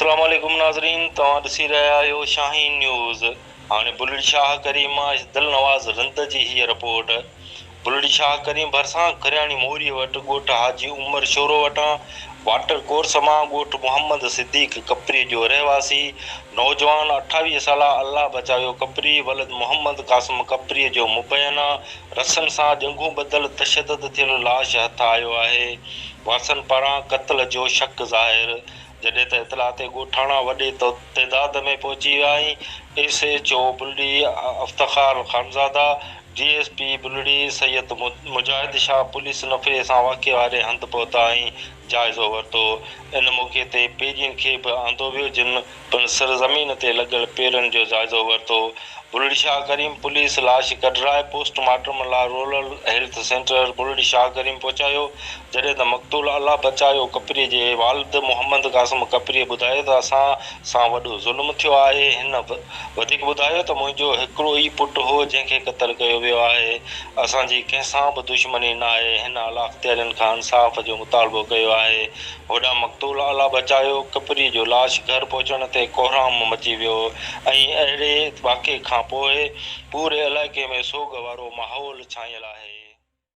اسلام عليڪم ناظرين توهان ڏسي رهيا آهيو شاهين نيوز هاڻي بلڙ شاهه ڪريم مان اس دلنواز رند جي هيء رپورٽ بلڙي شاهه ڪريم ڀرسان کرياڻي موريء وٽ ڳوٺ حاجي عمر شورو وٽان واٽر ڪورس مان ڳوٺ محمد صديق کپريء جو رهواسي نوجوان اٺاويهه سالا الله بچايو کپري ولد محمد قاسم کپريء جو مبينا رسم سان ڄنگهون ٻڌل تشدد ٿيل لاش هٿ آيو آهي وارثن پاران قتل جو شڪ ظاهر جڏهن ته اطلاع تي ڳوٺاڻا وڏي تعداد ۾ پهچي ويا ۽ S H O Bulri Iftikhar Khanzada D S P Bulri Syed Mujahid Shah police نفري سان واقعي واري هنڌ پهتا ۽ جائزو ورتو. ان موقعي تي پيرين کي به آندو ويو جن پڻ سر زمين تي لڳل پيرن جو جائزو ورتو. بلڙي شاهه ڪريم پوليس لاش ڪڍرائي پوسٽ مارٽم لاء rural health centre Bulri Shah Karim پهچايو جڏهن ته مقتول الله بچايو ڪپري جي والد محمد قاسم ڪپري ٻڌايو ته اسان سان وڏو ظلم ٿيو آهي. هن وڌيڪ ٻڌايو ته منهنجو هڪڙو ئي پٽ هو جنهن کي قتل ڪيو ويو آهي. اسان جي ڪنهن سان به دشمني ناهي. هن اعليٰاختيارين کان انصاف جو مطالبو ڪيو آهي. هوڏانهن مقتول اعليٰ بچايو ڪپري جو لاش گهر پهچڻ تي ڪوهرام مچي ويو ۽ اهڙي واقعي کانپوء پوري علائقي ۾ سوڳ وارو ماحول ڇانيل آهي.